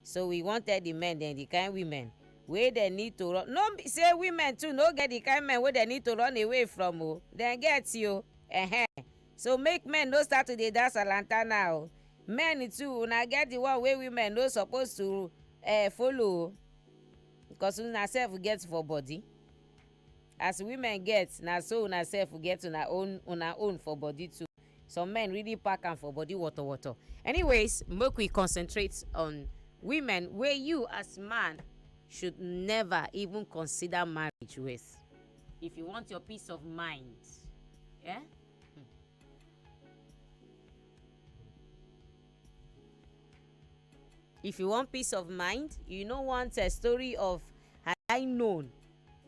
So we wan tell the men dem the kind women wey dem need to run no be say women too no get the kind men wey dem need to run away from o dem get o ehem so make men no start to dey dance alantana o men too una get the one wey women no suppose to uh, follow o because una sef get for body as women get na so una sef get una own una own for body too some men really pack am for body water water anyways make we concentrate on women wey you as man should never even consider marriage with if you want your peace of mind yeah If you want peace of mind, you no want a story of had I known,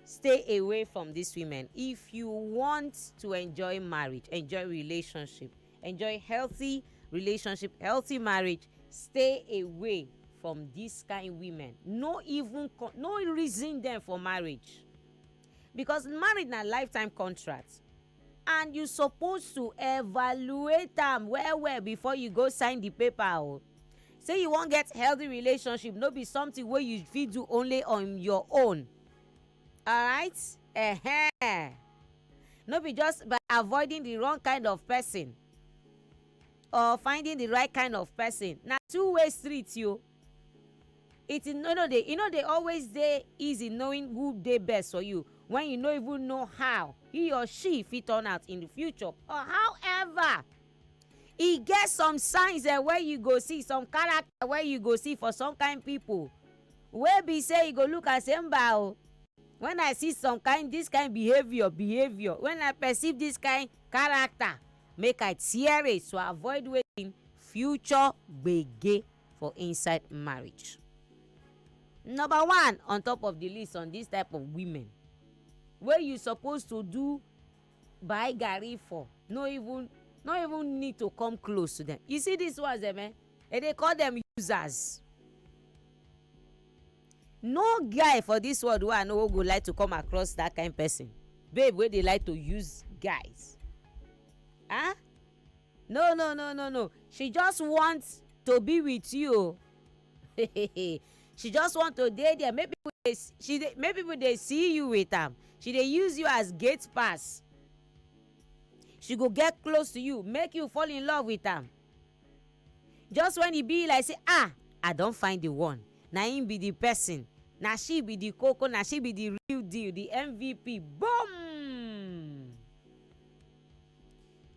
stay away from these women. If you want to enjoy marriage, enjoy relationship, enjoy healthy relationship, healthy marriage, stay away from these kind women. No even no reason them for marriage. Because marriage na lifetime contract. and you suppose to evaluate am well well before you go sign the paper o say you wan get healthy relationship no be something wey you fit do only on your own alright uh-huh. no be just by avoiding the wrong kind of person or finding the right kind of person na two way street yo It is no no dey e no dey always dey easy knowing who dey best for you when you no even know how he or she fit turn out in the future or however e get some signs eh, wey you go see some character wey you go see for some kind people wey be say you go look am say mba o when I see some kind this kind behaviour behaviour when I perceive this kind character make I tear it to avoid wetin future gbege. for inside marriage. Number one on top of the list on this type of women wey you suppose to do buy garri for no even no even need to come close to them. You see these ones dem eh, they dey call them users. No guy for this world wey I know go like to come across that kind person babe wey dey like to use guys. Huh? Ah? No no no no no she just want to be with you o. she just want to dey there make people dey she dey make people dey see you with am she dey use you as gate pass she go get close to you make you fall in love with am just when e be like say ah i don find the one na him be the person na she be the koko na she be the real deal the mvp boom.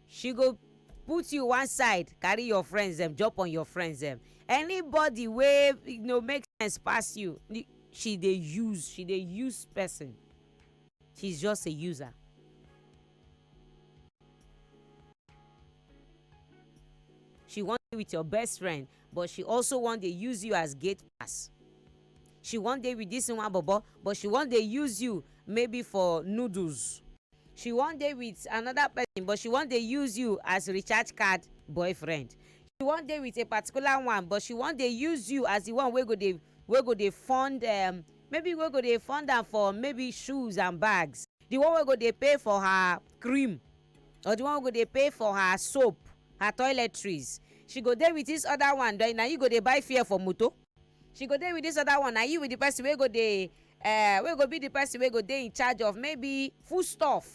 she go put you one side carry your friends dem jump on your friends dem anybody wey you know make sense pass you she dey use she dey use person she's just a user she wan dey with your best friend but she also wan dey use you as gate pass she wan dey with this one bobo but she wan dey use you maybe for noodles She wan dey with another person but she wan dey use you as recharge card boyfriend. She wan dey with a particular one but she wan dey use you as the one wey go dey wey go dey fund um maybe wey go dey fund am for maybe shoes and bags, the one wey go dey pay for her cream or the one wey go dey pay for her soap, her toiletries. She go dey with this other one then na you go dey buy fuel for motor. she go dey with this other one na you with the person wey go dey uh, wey go be the person wey go dey in charge of maybe food stuff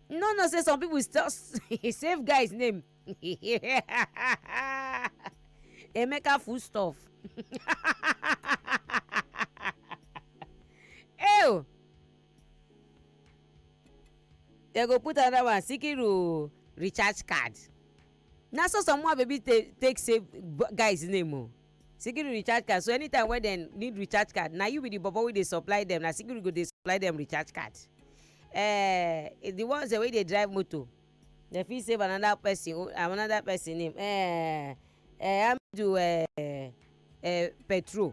you no know say some people still save guy's name emeka food stuff ew dem go put another one sikiru recharge card na so some more baby take take save guys name o sikiru recharge card so anytime wey dem need recharge card na you be the bobo wey dey supply dem na sikiru go dey supply dem recharge card eh the ones wey dey drive motor dem fit save another person o- another person name eh eh hamidu eh eh petrol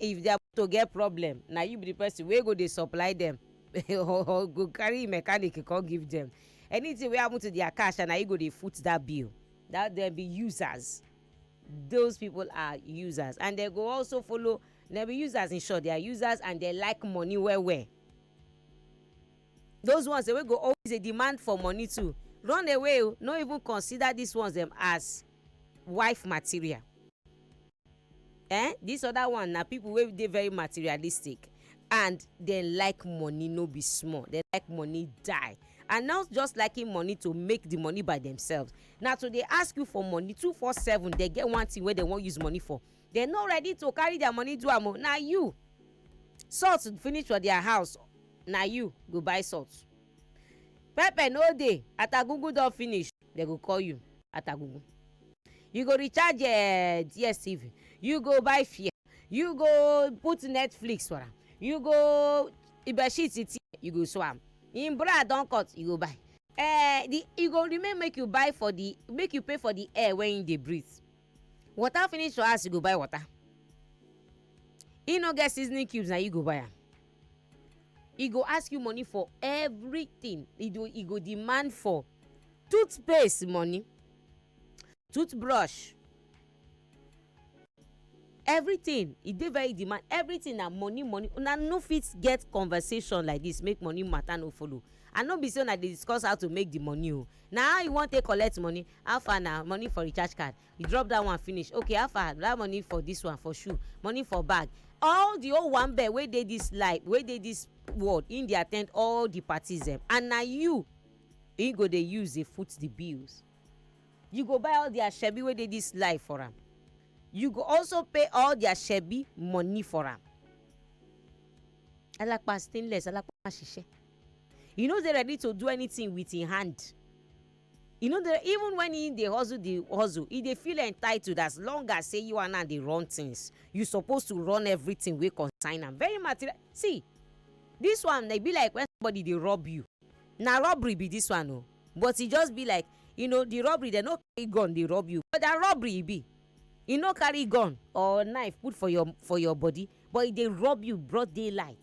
If their motor get problem, na you be the person wey go dey supply them or go carry mechanic come give them. Anything wey happen to their car sha, na you go dey foot that bill. That dem be users. Those people are users and they go also follow dem be users in short they are users and they like money well well. Those ones wey go always dey demand for money too run away o, no even consider these ones dem as wife material. eh this other one na people wey dey very materialistic and dem like money no be small dem like money die and not just liking money to make the money by themselves na to dey ask you for money two four seven dem get one thing wey dem wan use money for dem no ready to carry their money do am o na you salt finish for their house na you go buy salt pepper no dey atagungu don finish dem go call you atagugu you go recharge uh, dstv you go buy fear you go put netflix for am you go bedsheet tear you go sew am im bra don cut you go buy uh, the e go remain make you buy for the make you pay for the air wey im dey breathe water finish for house you go buy water e no get seasoning cubes na you go buy am e go ask you money for everything e go e go demand for toothpaste money toothbrush everything e dey very demand everything na money money una no fit get conversation like this make money matter no follow and no be say una dey discuss how to make the money o na how you wan take collect money how far na money for recharge card you drop that one finish okay how far that money for this one for shoe money for bag all the whole one bed wey dey this life wey dey this world him dey attend all the parties dem and na you he go dey use dey foot the bills you go buy all their shebi wey dey this life for am you go also pay all their shebi money for am alapa stainless alapa ṣiṣẹ you no dey ready to do anything with him hand e no dey even when he dey hustle the hustle he dey feel entitled as long as say you and am dey run things you suppose to run everything wey concern am very material see this one e be like when somebody dey rob you na robbery be this one o but e just be like you know the robbery dem no carry gun dey rob you but na robbery e be e no carry gun or knife put for your for your body but e dey rob you broad daylight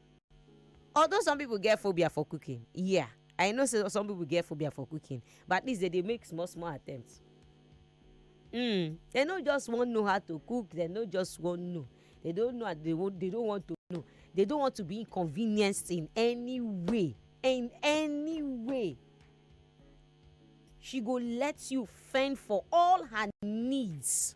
although some people get phobia for cooking yeah i know say some people get phobia for cooking but at least they dey make small small attempts mm, they no just wan know how to cook they no just wan know they don't know they, won't, they don't want to know they don't want to be inconvenienced in any way in any way she go let you fend for all her needs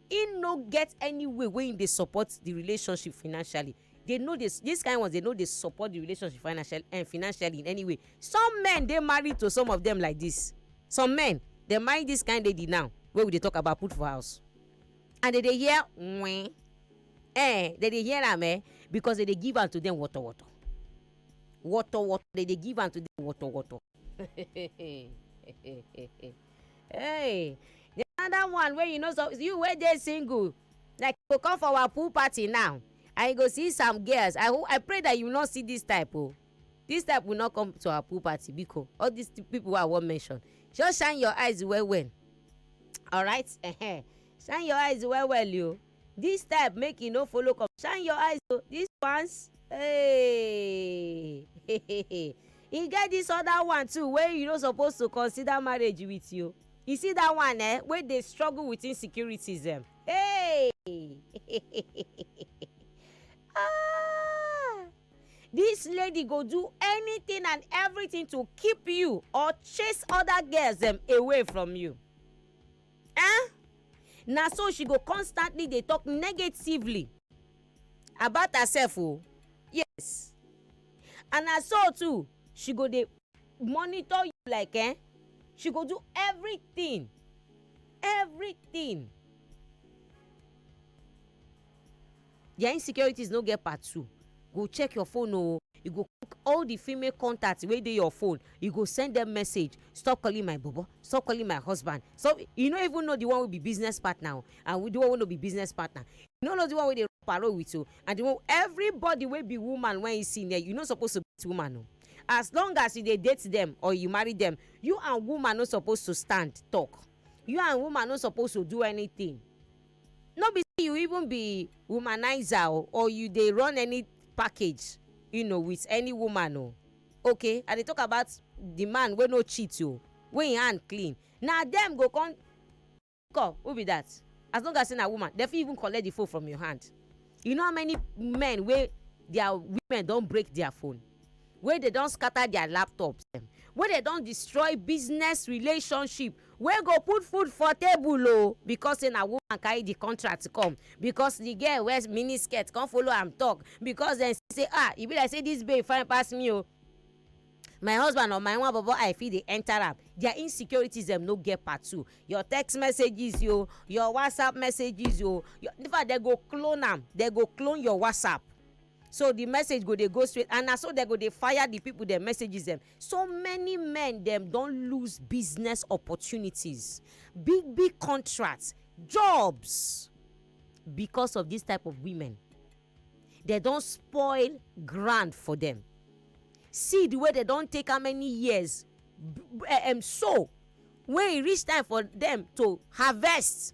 Im no get any way wey im dey support di relationship financially. Dey no dey dis kain ones dey no dey support di relationship financial um financially in any way. Some men dey married to some of dem like dis. Some men dem marry dis kain lady now wey we dey talk about put for house and dem dey hear wen um dem dey hear am um because dem dey give am to dem woto woto. Woto woto dem dey give am to dem woto woto. Hey, the another one wey you know so you wey dey single like you go come for our pool party now and you go see some girls I ho- I pray that you no see this type o. Oh. This type will not come to our pool party biko all these people wey I wan mention just shine your eyes well well alright uh-huh. shine your eyes well well o. Oh. This type make e no follow come. Shine your eyes o. This ones hey e get this other one too wey you no suppose to consider marriage with you. You see that one eh wey dey struggle with insecurities dem. Hey ah this lady go do anything and everything to keep you or chase other girls dem away from you. eh na so she go constantly dey talk negatively about herself o yes and na so too she go dey monitor you like eh she go do everything everything Their insecurities no get part two. Go check your phone oh. You go click all the female contacts wey dey your phone. You go send them message. Stop calling my bobo. Stop calling my husband. So you no even know the one wey be business partner oh, and with the one wey no be business partner. You no know the one wey dey parole with oh, and the one everybody wey be woman when you see there, you no suppose to date woman oh. As long as you dey date them or you marry them, you and woman no suppose to stand talk. You and woman no suppose to do anything. no be say you even be womanizer o or you dey run any package you know with any woman o okay i dey talk about the man wey no cheat o wey him hand clean na dem go come call who be that as long as say na woman dem fit even collect the phone from your hand you know how many men wey their women don break their phone. wey dey don scatter their laptops dem, wey dey don destroy business relationship wey go put food for table o because sey na woman carry the contract come, because the girl wear mini skirt come follow am talk, because dem see sey ah e be like sey this babe fine pass me o, my husband or my nwa bobo eye fit dey enter am, their insecurities dem no get part two, your text messages o, your WhatsApp messages o, infact dem go clone am, dem go clone your WhatsApp. so di message go dey go straight and na so dem go dey fire di pipo dem messages dem so many men dem don lose business opportunities big big contracts jobs because of dis type of women dem don spoil ground for dem seed wey dem don take how many years eh, em sow wey e reach time for dem to harvest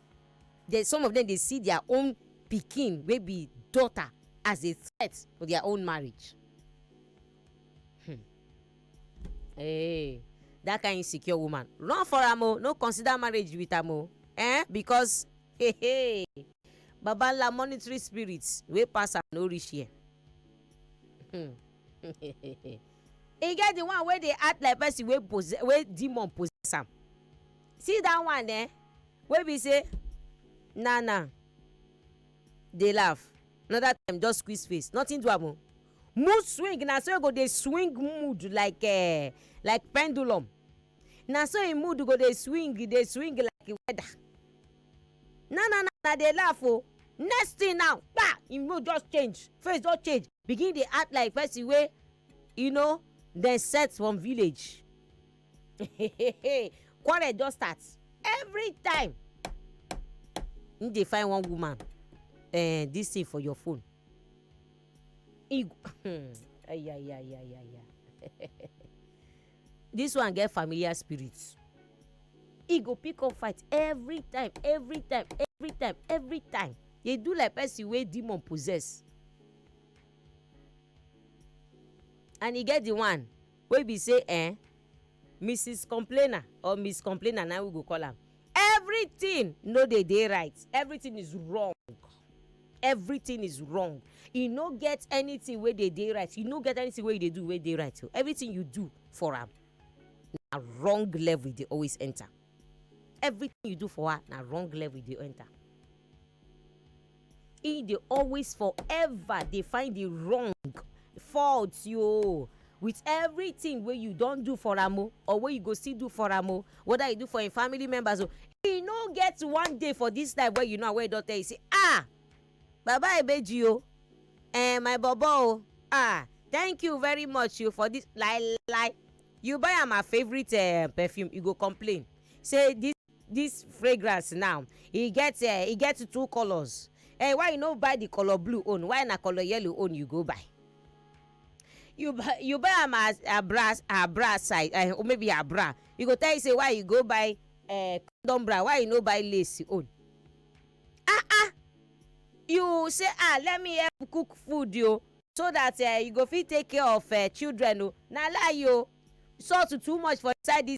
Then some of dem dey see dia own pikin wey be daughter as a threat to dia own marriage. Hmm. Hey, dat kain insecure woman, run for am o, no consider marriage wit am o, eh, because hey hey, babanla monitory spirit wey pass am no reach here. Hmm. E get di one wey dey act like pesin wey possess wey demon possess am. see that one eh wey be say na na dey laugh another time just squeeze face nothing do am o mood swing na so e go dey swing mood like uh, like pendulum na so im mood go dey swing dey swing like weather na na na na dey laugh o next thing now pa im mood just change face just change begin dey act like person wey you know dem set from village quarrel don start every time him dey find one woman eh, this thing for your phone he go ayayayayaya this one get familiar spirit he go pick up fight every time every time every time every time dey do like person wey demon possess and e get the one wey be say eh Mrs complainer or Miss complainer na we go call am everything no dey dey right everything is wrong everything is wrong e no get anything wey dey dey right e no get anything wey you dey do wey dey right o everything you do for am na wrong level e dey always enter everything you do for her na wrong level e dey enter He dey always forever dey find the wrong fault yo with everything wey you don do for am o or wey you go still do for am o whether you do for im family members o e no get one day for this life wey you know wey e don tell you say ah baba ebeji o eh my bobo o ah thank you very much you for this lai lai you buy am her favourite uh, perfume you go complain say this This fragrance now, e get eh, e get two colours. Eh, why you no buy the colour blue own? Why na colour yellow own you go buy? You buy you buy am as her bra her bra size eh, or maybe her bra. You go tell you say why you go buy eh, condom bra? Why you no buy lace own? Ah ah, you say ah let me help cook food yo, so that eh, you go fit take care of eh, children o. Na lie yo, salt too much for inside this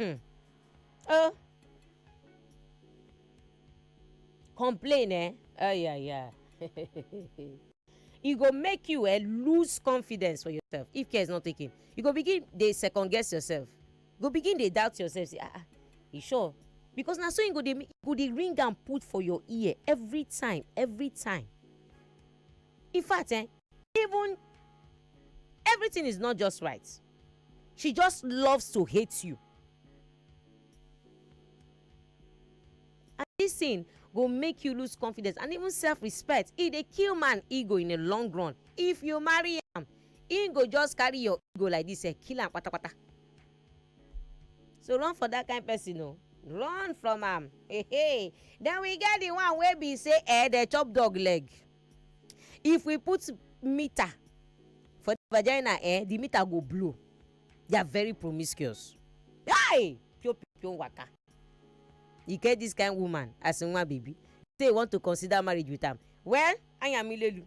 Hmm. Oh. Complain, eh? Oh, yeah, yeah. e go make you eh, lose confidence for yourself if care is not taken you go begin dey second guess yourself you go begin dey doubt yourself say ah ah you sure because na so you go dey you go dey ring am put for your ear every time every time in fact eh Even everything is not just right. She just loves to hate you. And this thing go make you lose confidence and even self-respect. E dey kill man ego in the long run. If you marry am, he go just carry your ego like this, eh, kill am patapata. So run for that kind person o. Run from am. Hey, hey. Then we get the one wey be say eh, dey chop dog leg. if we put meter for the vagina eh the meter go blow they are very promiscuous hi pio pio waka e get this kind woman as nwa baby say you want to consider marriage with am well ayamilelu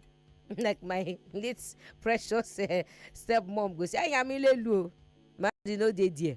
like my late precious uh, stepmom go say ayamilelu o marriage no dey there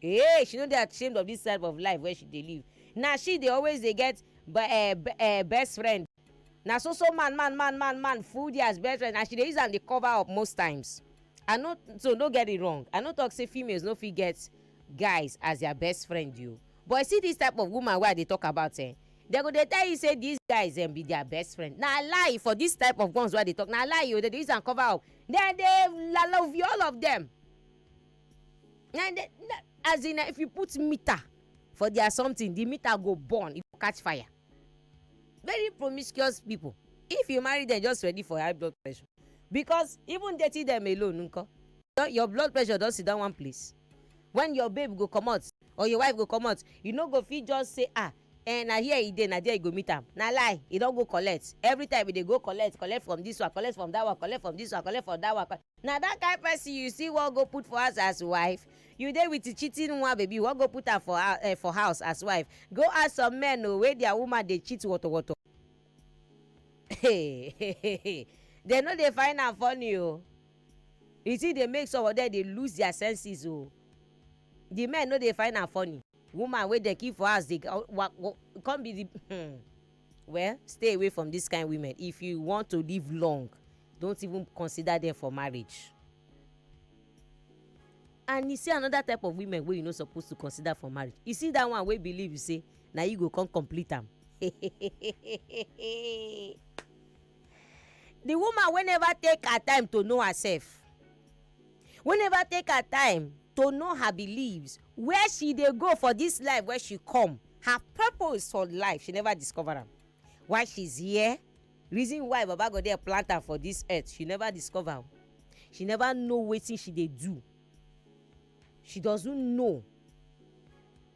Hey, she no dey ashamed of this type of life wey she dey live. Na she dey always dey get best friend. Na so so man man man man man full there as best friend and she dey use am dey cover up most times. I no so no get it wrong. I no talk say females no fit get guys as their best friend o. But you see this type of woman wey I dey talk about eh, dem go dey tell you say these guys dem be their best friend. Na lie for this type of ones wey I dey talk. Na lie o, dem dey use am cover up. Dem dey love you all of them. na na as in na if you put meter for their something the meter go burn e go catch fire very promiscuous people if you marry them just ready for high blood pressure because even dating them alone nko your blood pressure don sit down one place when your babe go comot or your wife go comot you no go fit just say ah Eh, na here e dey, na there you go meet am. Na lie, e don go collect. Every time e dey go collect, collect from this one, collect from that one, collect from this one, collect from that one. Na that kind person you still wan go put for house as wife? You dey with the cheating one baby, you wan go put am for eh, for house as wife? Go ask some men o wey their woman dey cheat wotowoto. Dem no dey find am funny o. The thing dey make some of them dey lose their senses o. The men no dey find am funny. Woman wey dem kill for house dey wa wa come be the hmm. Well, stay away from this kind women if you want to live long don't even consider them for marriage. And you see another type of women wey you no suppose to consider for marriage. You see that one wey believe say na you go come complete am. The woman wey never take her time to know herself, wey never take her time to know her beliefs, where she dey go for this life wey she come, her purpose for life, she never discover am. Why she's here, reason why Baba God dey plant am for this earth, she never discover o. She never know wetin she dey do, she doesn't know.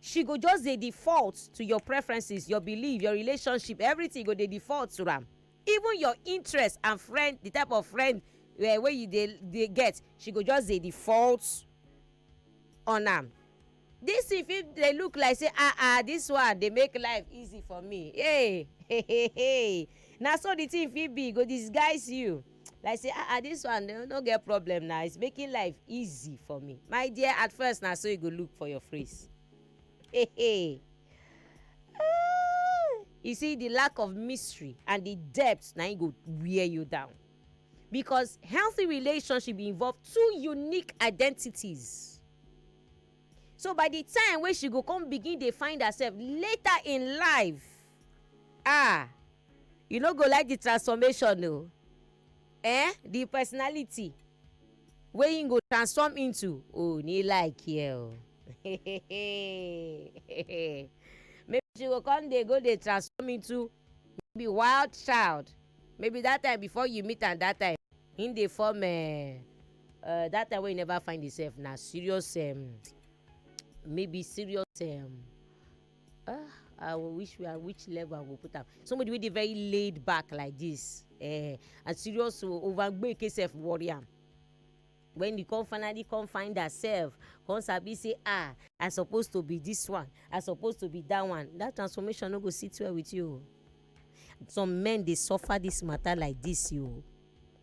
she go just dey default to your preferences your belief your relationship everything go dey default to am even your interest and friend the type of friend uh, wey you dey dey get she go just dey default on am this thing fit dey look like say ah ah this one dey make life easy for me hey hey hey hey na so the thing fit be e go disguise you like say ah ah this one no no get problem na it's making life easy for me my dear at first na so e go look for your face hey hey ah you see the lack of mystery and the depth na im go wear you down because healthy relationship involve two unique identities so by the time wey she go come begin dey find herself later in life ah you no go like the transformation o eh the personality wey im go transform into o ni like here o maybe she go come dey go dey transform into maybe wild child maybe that time before you meet am that time im dey form um Uh, that time when you never find yourself now, serious um, maybe serious um, uh, I wish we are which level I will put up. Somebody with a very laid back like this, uh, eh, and serious over make yourself warrior. when you come finally come find herself come sabi say ah i suppose to be this one i suppose to be that one that transformation no go sit well with you some men dey suffer this matter like this you.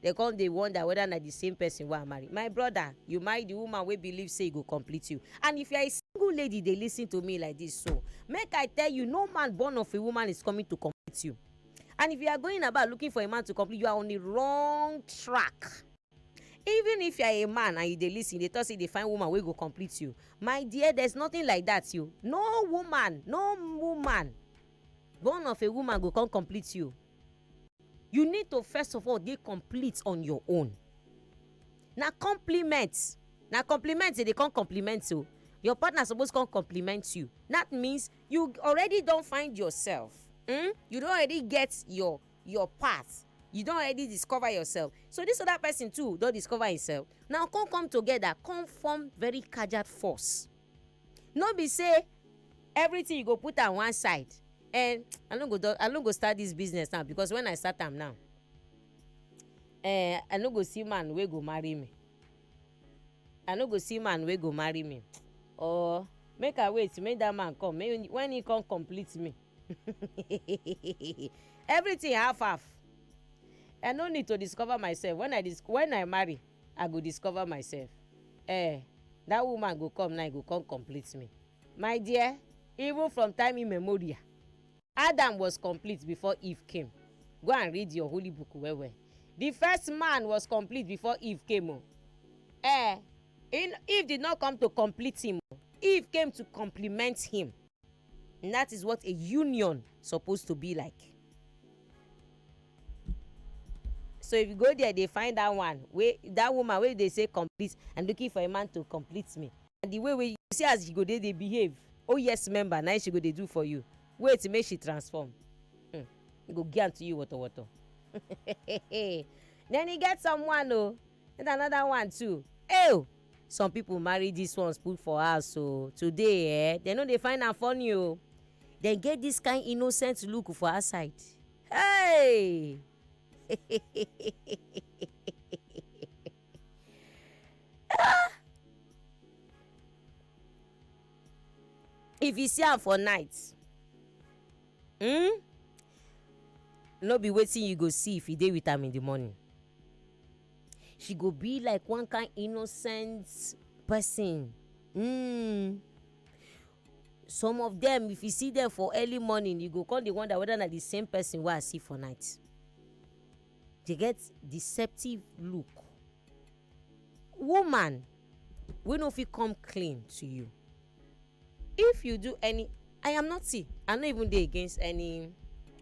Dem come dey wonder whether na the same person wey I marry. My brother, you marry the woman wey believe say e go complete you. And if you are a single lady dey listen to me like this so, make I tell you, no man born of a woman is coming to complete you. And if you are going about looking for a man to complete, you are on a wrong track. Even if you are a man and you dey listen, you dey talk say you dey find woman wey go complete you. My dear, there is nothing like that you. No woman, no woman born of a woman go come complete you. you need to first of all dey complete on your own na compliment na compliment e dey come compliment o your partner suppose come compliment you that means you already don find yourself hmm? you don already get your your path you don already discover yourself so this other person too don discover himself now come come together come form very kajad force No be sey everything you go put am one side um I no go just I no go start this business now because when I start am now um I no go see man wey go marry me I no go see man wey go marry me or make I wait make that man come make when he come complete me everything half half I no need to discover myself when I dis when I marry I go discover myself eh That woman go come now e go come complete me My dear, even from time immemorial Adam was complete before Eve came Go and read your holy book well well The first man was complete before Eve came o Eh, Eve did not come to complete him o Eve came to complement him And that is what a union supposed to be like. so if you go there they find that one wey that woman wey dey say complete i'm looking for a man to complete me and the way wey you see as she go dey dey behave oh yes member na she go dey do for you wait make she transform hmm. go give am to you wotowoto then e get someone o oh, And another one too ew some people marry this ones put for house o today eh dem no dey find am funny o dem get this kind innocent look for outside hey if you see am for night hmm no be wetin you go see if you dey with am in the morning she go be like one kind innocent person um some of them if you see them for early morning you go come dey wonder whether na the same person wey i see for night they get deceptive look woman wey no fit come clean to you if you do any i am not see i no even dey against any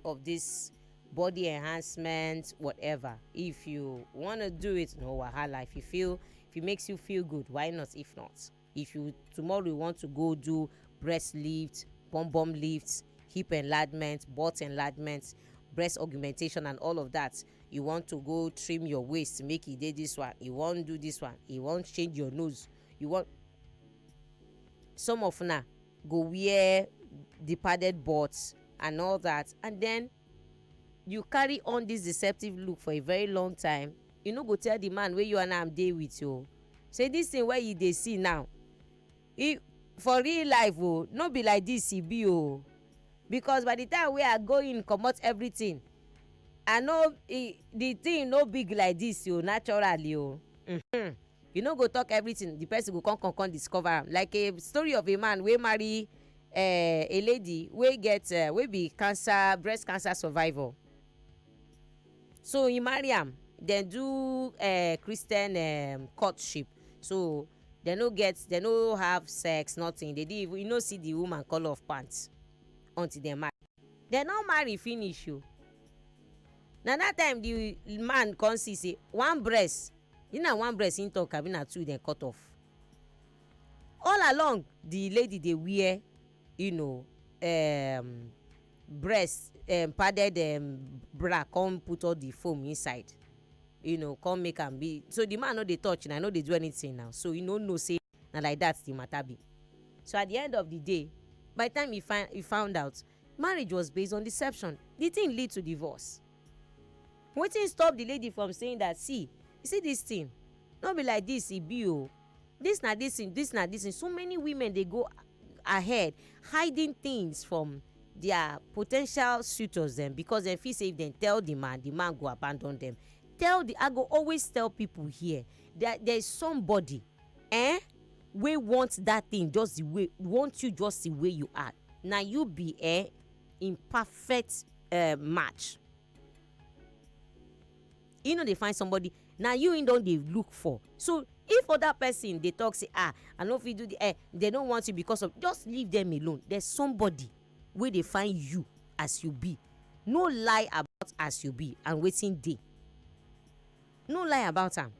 of this body enhancement whatever if you want to do it no wahala if you feel if it makes you feel good why not if not if you tomorrow you want to go do breast lift bum bum lifts hip enlargement butt enlargement breast augmentation and all of that you want to go trim your waist make e dey this one you wan do this one you wan change your nose you wan some of una go wear the padded butt and all that and then you carry on this deceptive look for a very long time you no go tell the man wey you and am dey with o oh. say this thing wey you dey see now e for real life o oh, no be like this e be o oh. because by the time wey i go in comot everything i no e, the thing no big like this o naturally o. Mm -hmm. You no go talk everything the person go come come come discover am like a story of a man wey marry um a lady wey get um wey be cancer breast cancer survivor so he marry am dem do um Christian um courtship so dem no get dem no have sex nothing they didn't even you no see the woman colour of pant until dem marry dem no marry finish o na that time the man come see say one breast Is na one breast him talk abi na two dem cut off? All along the lady dey wear you know um breast um padded um bra come put all the foam inside you know come make am be so the man no dey touch na no dey do anything now so he no know say na like that the matter be so at the end of the day by the time he find he found out Marriage was based on deception. Di tin lead to divorce. Wetin stop di lady from saying dat, See, you see dis tin, no be like dis e be o, dis na dis tin, dis na dis tin. So many women dey go ahead hiding tins from dia potential suitors dem because dem feel say if dem tell di man, di man go abandon dem. Tell di I go always tell pipu here dat there is somebody um wey want dat tin just di way want you just di way you are. na you be eh, im perfect eh, match. He no dey find somebody na you im don dey look for so if other person dey talk say ah i no fit do the eh they no want you because of just leave them alone there's somebody wey dey find you as you be no lie about as you be and wetin dey no lie about am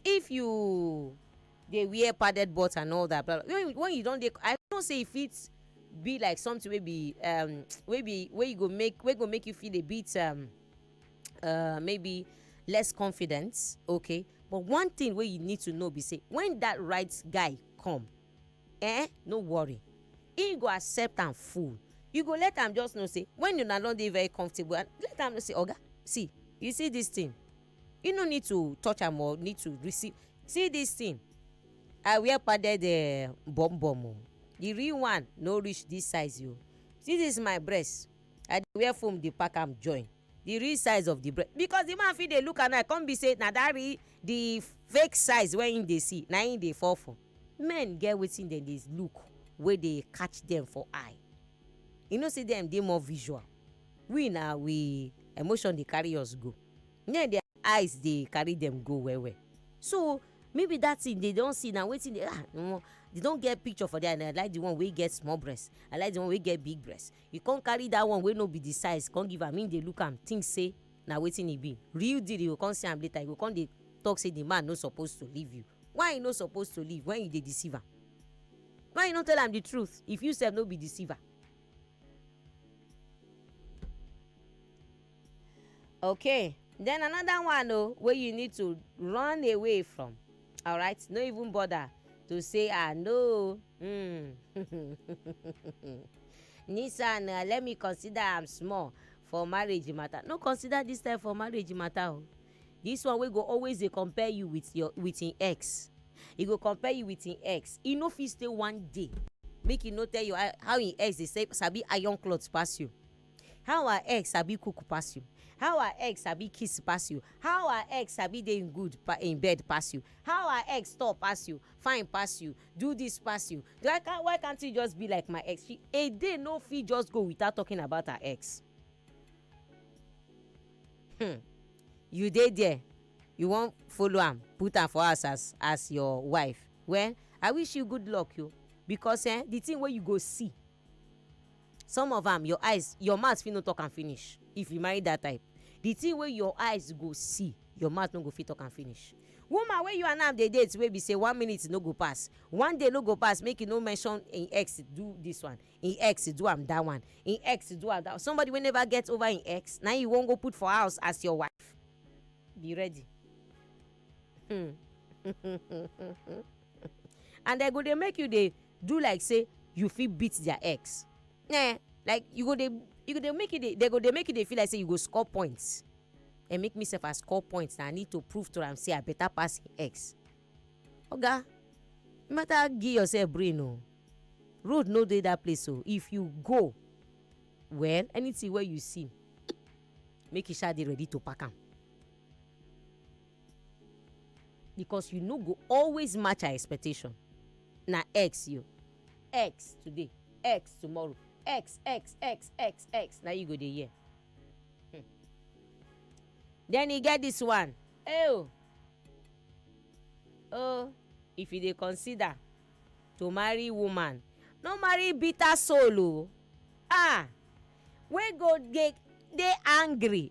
if you dey wear padded belt and all that but when when you don dey i know say e fit be like something wey be um wey be wey you go make wey go make you feel a bit um uh maybe less confident okay but one thing wey you need to know be say when that right guy come eh no worry he go accept am full you go let am just know say when una don dey very comfortable and let am know say oga see you see this thing you no need to touch am or need to receive see this thing i wear padded uh, bum bum o the real one no reach this size o see this my breast i dey wear foam dey pack am join the real size of the breast because the man fit dey look am now come be say na that real the fake size wey him dey see na him dey fall for men get wetin dem dey look wey dey catch dem for eye you know say dem dey more visual we na we emotion dey carry us go Naim their eyes dey carry dem go well well. So maybe that thing they don see na wetin dey ah omo they don get picture for there and I like the one wey get small breast, I like the one wey get big breast. You come carry that one wey no be the size come give am, im dey look am think say na wetin e be. Real deal you go come see am later you go come dey talk say the man no suppose to leave you. Why e no suppose to leave when you dey deceive am? Why you no tell am the truth if you sef no be deceiver? okay then another one o oh, wey you need to run away from All right, no even bother to say ah no mm. nissan uh, let me consider am small for marriage matter no consider this time for marriage matter o oh. this one wey go always dey compare you with your with im ex e go compare you with im ex e no fit stay one day make e no tell you how im ex dey sabi iron cloth pass you How her egg sabi cook pass you? How her egg sabi kiss pass you? How her egg sabi dey in good pa- in bed pass you? How her egg tall pass you? Fine pass you? Do this pass you? Do I can why can't you just be like my ex? She, a day no fit just go without talking about her ex. Hmm. You dey there, you wan follow am, put am for house as as your wife. Well, I wish you good luck, yo, because eh, the thing wey you go see some of am your eyes your mouth fit no talk am finish if you marry that type the thing wey your eyes go see your mouth no go fit talk am finish woman wey you and am dey date wey be say one minute no go pass one day no go pass make you no mention im ex do this one im ex do am that one im ex do am that one somebody wey never get over im ex na you wan go put for house as your wife be ready hmm. and dem go dey make you dey do like say you fit beat their ex eh like you go dey you go dey make you dey they go dey make you dey feel like say you go score points and make me sef I score points na I need to prove to am say I better pass him ex oga you matter give yourself brain o road no dey that place o if you go well anything wey you see make you sha dey ready to pack am because you no go always match her expectation na x you x today x tomorrow x x x x x na you go dey hear hmm. then e get this one oh oh if you dey consider to marry woman no marry bitter soul o oh. ah wey go dey dey angry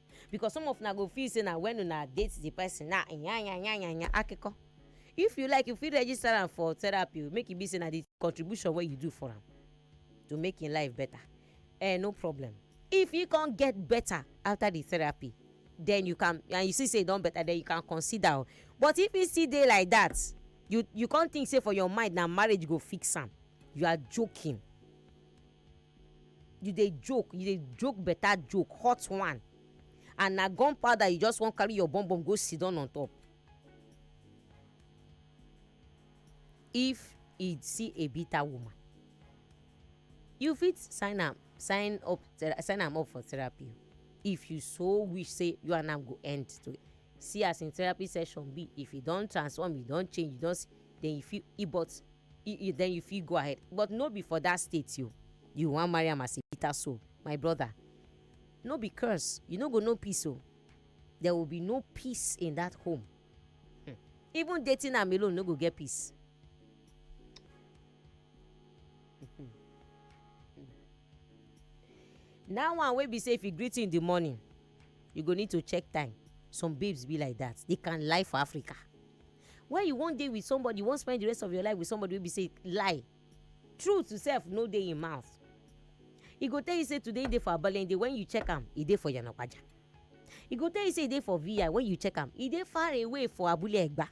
because some of una go feel say na when una date the person na yanyanyanya akiko if you like you fit register am for therapy make e be say na the contribution wey you do for am to make im life better eh no problem if e come get better after the therapy then you can and you see say e don better then you can consider o but if e still dey like that you you come think say for your mind na marriage go fix am you are joking you dey joke you dey joke better joke hot one and na gunpowder you just wan carry your bum bum go sit down on top if e see a bitter woman you fit sign am sign up sign am up for therapy if you so wish say you and am go end to See as im therapy session be, if e don transform, e don change, e don see, then you fit e but e e then you fit go ahead but no be for that state o. You wan marry am as a bitter soul, my brother no be curse, you no go know peace o. There will be no peace in that home. Hmm. Even dating am alone no go get peace. That one wey be say if you greet you in the morning you go need to check time some babes be like that they can lie for africa when you wan dey with somebody you wan spend the rest of your life with somebody wey be say lie truth sef no dey im mouth e go tell you say today e dey for abalende when you check am e dey for yanapaja e go tell you say e dey for vi when you check am e dey far away for abule egba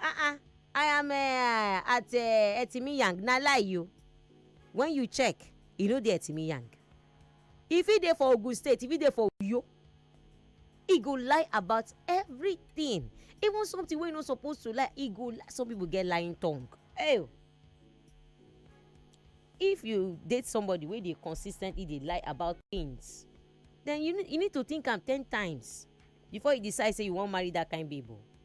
ah ah i am uh, at uh, eh, etimiyang na lie you when you check e no dey etimiyang If he dey for Ogun State, if he dey for Uyo, he go lie about everything. Even something wey no supposed to lie, he go lie. Some people get lying tongue. Hey, if you date somebody wey dey consistently dey lie about things, then you you need to think am ten times before you decide say you wan marry that kind babe. Oh.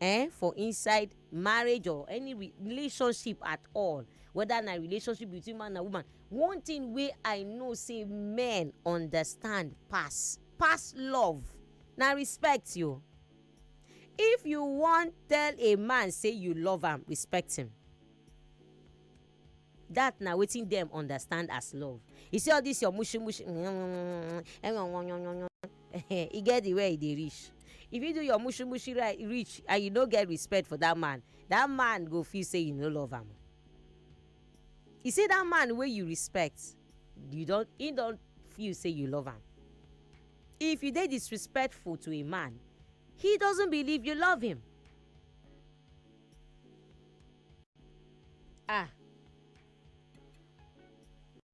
eh for inside marriage or any relationship at all whether na relationship between man and woman one thing wey i know say men understand pass pass love na respect yo if you wan tell a man say you love am respect him Dat na wetin dem understand as love. You see all dis your mushu mushu e get the where e dey reach. If you do your mushu mushu reach and you no get respect for dat man, dat man go feel say you no love am. You see dat man wey you respect, you don im don feel say you love am. If you dey disrespectful to a man, he doesn't believe you love him. Ah!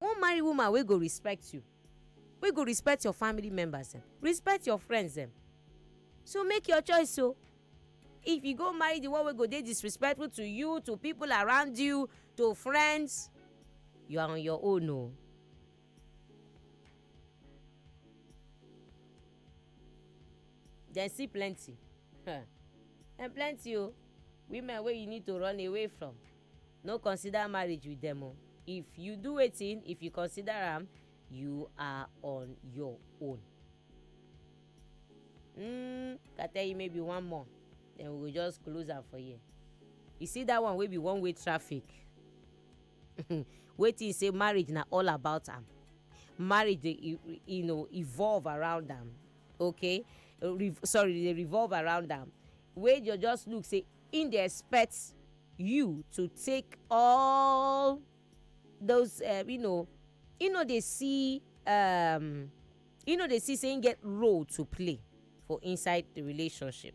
You wan marry woman wey go respect you, wey go respect your family members dem, respect your friends dem. So make your choice o. If you go marry the one wey go dey disrespectful to you, to pipu around you, to friends, you are on your own o. dem see plenty huh. and plenty o women wey you need to run away from no consider marriage with dem o if you do wetin if you consider am you are on your own mm, i tell you maybe one more then we go just close am for here you see that one wey be one way traffic wey think say marriage na all about am marriage dey e- e- you know evolve around am okay Re- sorry dey revolve around am wey you just look say im dey expect you to take all those um, you know you know dey see um, you know dey see say im get role to play for inside the relationship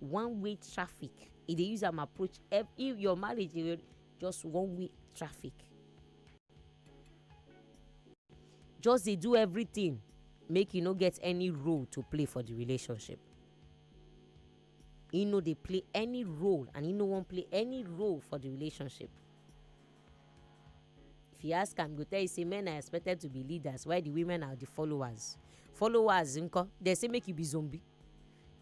one way traffic e dey use am approach if your marriage dey just one way traffic just dey do everything make you no get any role to play for the relationship he no dey play any role and he no wan play any role for the relationship if you ask am go tell you say men are expected to be leaders while the women are the followers followers nko dem say make you be zombie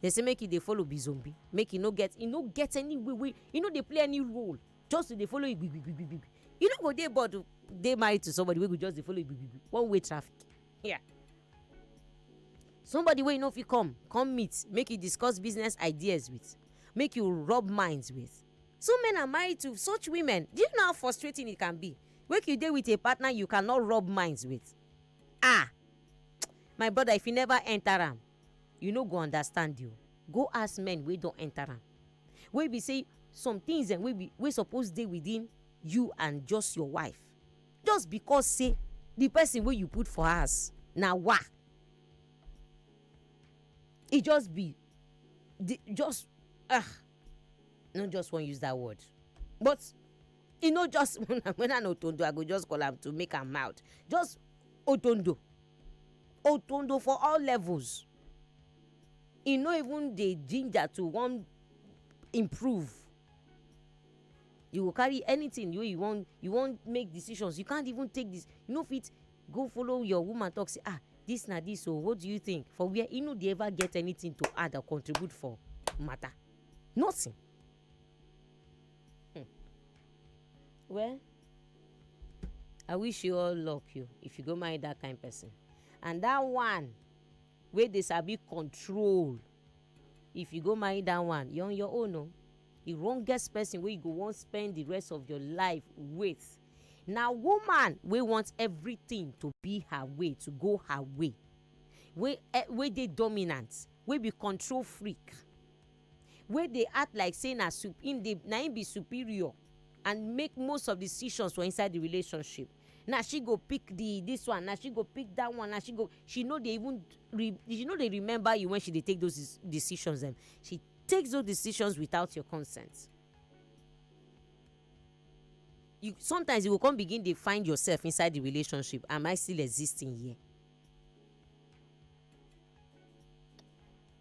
Dem say make e dey follow Bizombi, make e no get e no get any way wey e no dey play any role, just to dey follow igbigbigbigbigbi. E no go dey bored o, dey married to somebody wey go just dey follow igbigbigbi, one way traffic. Yeah. Somebody wey you no fit come, come meet, make you discuss business ideas with, make you rub minds with. Some men are married to such women. Do you know how frustrating it can be? Make you dey with a partner you cannot rub minds with. Ah! My brother, if you never enter am, you no go understand you go ask men wey don enter am wey be say some things dem wey be wey suppose dey within you and just your wife just because say the person wey you put for house na wa e just be the just ah no just wan use that word but e no just when an otondo i go just call am to make am mouth just otondo otondo for all levels e no even dey ginger to wan improve you go carry anything wey you wan you wan make decisions you can't even take this you no fit go follow your woman talk say ah this na this o oh, what do you think for where e no dey ever get anything to add or contribute for matter nothing Hmm. Well, I wish you all luck you if you go marry that kind person. And that one wey dey sabi control if you go marry that one you're on your own o. Oh. The wrongest person wey you go wan spend the rest of your life with na woman wey want everything to be her way to go her way wey eh, wey dey dominant wey be control freak wey dey act like say na su im dey na im be superior and make most of decisions for inside the relationship. Na she go pick the this one, na she go pick that one, na she go she no dey even re she no dey remember you when she dey take those decisions dem. She takes those decisions without your consent. You sometimes you go come begin dey find yourself inside the relationship am I still existing here?